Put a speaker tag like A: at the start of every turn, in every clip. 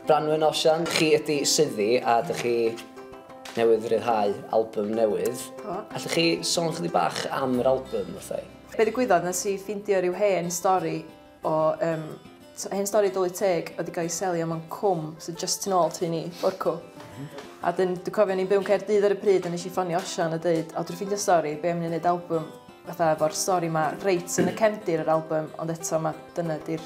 A: Branwen Osian, chi ydi Syddi a dych chi newydd ryddhau album newydd. Do. Allwch chi sôn chydig bach am yr album wrtha i? Be ddigwyddodd, nes i
B: ffindio rhyw hen stori o um, hen stori dwlu teg oedd wedi cael ei selio mewn cwm sydd just tu ôl tu ni, Borcw. Mhm. A dyn, dwi'n cofio ni'n byw'n Caerdydd ar y pryd a nes i ffonio Osian a dweud, o dwi'n ffindio stori, be am ni'n gwneud album fatha efo'r stori ma reit yn y cefndir yr album, ond eto mae dyna di'r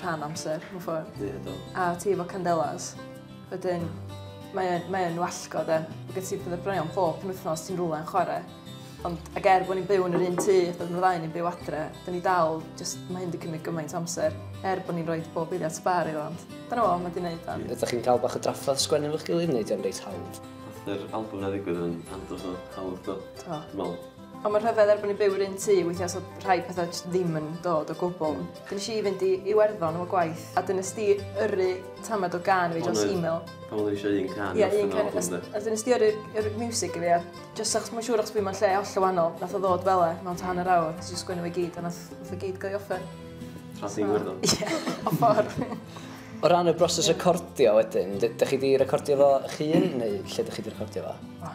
B: rhan amser, mewn ffordd. Ie, do. A ti efo
C: candelas,
B: wedyn mae o'n mae o'n wallgo de. Mae gen ti pethau braion bob penwythnos ti'n rhywle yn chwarae. Ond ac er bod ni'n byw yn yr un tŷ, doedd nhw ddau ni'n byw adre, da ni dal, just, mae hyn wedi cymryd gymaint o amser, er bod ni'n rhoi bob eiliad sbar iddo, ond dyna fo, mae wedi gwneud da. Ydych chi'n cael bach o drafferth
A: sgwennu efo'ch gilydd neu ydy o'n reit hawdd? Nath yr album na
C: ddigwydd yn andros o hawdd do. Do. Dwi me'wl Ond mae'n rhyfedd er bod
B: ni'n byw yr un tŷ, weithiau so rhai pethau jyst ddim yn dod o gwbl. Dyn nes i fynd i Iwerddon efo gwaith, a dyn nes di yrru tamed o gan i fi dros email. Pan oedden ni eisiau un can
C: yeah, un can, a, a
B: dyn nes di yrru, yrru music i fi, a jyst achos mae'n siŵr achos fi mae'n lle holl o wahanol, nath o ddod fel e, mewn tan yr awr, nes i sgwynnu fi gyd, a nath, nath o gyd gael i offer. Tras i'n Iwerddon?
C: Ie, o ffordd.
B: O ran y
A: broses recordio wedyn, ydych chi wedi recordio fo chi un neu lle ydych chi wedi recordio fo?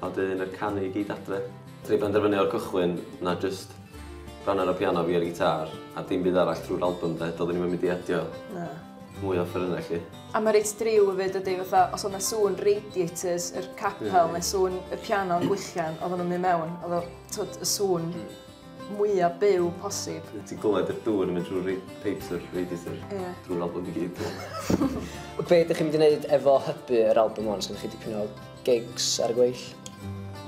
C: A wedyn yr canu i gyd adre. Nes i benderfynu o'r cychwyn na jyst rhan ar y piano fi a'r gitâr a dim byd arall trwy'r albym 'de, doeddwn i'm yn mynd i adio... Na. ...mwy o offerynnau 'lly. A mae reit driw
B: hefyd dydi, fatha os oedd 'na sŵn radiators yr capel neu sŵn y piano yn gwichian oedden nhw'n mynd mewn, oedd o, tibod, y sŵn... mwya byw posib. Ti'n clywed y dŵr
C: yn mynd trwy'r rei- pipes yr radiator? Ie. Drwy'r album i gyd. Be
A: ydych chi'n mynd i wneud efo hybu yr album hwn? Sgynnoch chi dipyn o gigs ar y gweill?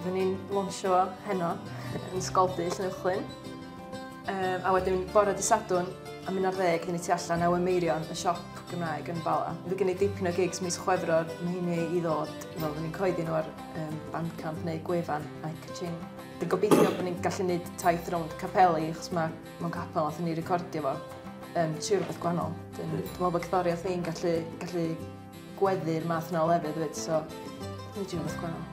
A: Fy ni'n
B: lonsio fo heno yn Sgoldy, Llynywchlyn. Um, a wedyn bore dy Sadwn am un ar ddeg, dyn ni tu allan a Meirion, y siop Gymraeg yn Bala. Fe gen i dipyn o gigs mis Chwefror, mae hynny i ddod, fel fy ni'n coeddi nhw ar um, Bandcamp neu gwefan Ike Ching. Dwi'n gobeithio bod ni'n gallu gwneud taith rownd capeli, achos mae mewn capel nath ni recordio fo, um, tri rhywbeth gwahanol. Dwi'n meddwl bod cerddoriaeth ni'n gallu, gallu gweddu'r math yna o lefydd fyd, so dwi'n meddwl rhywbeth gwahanol.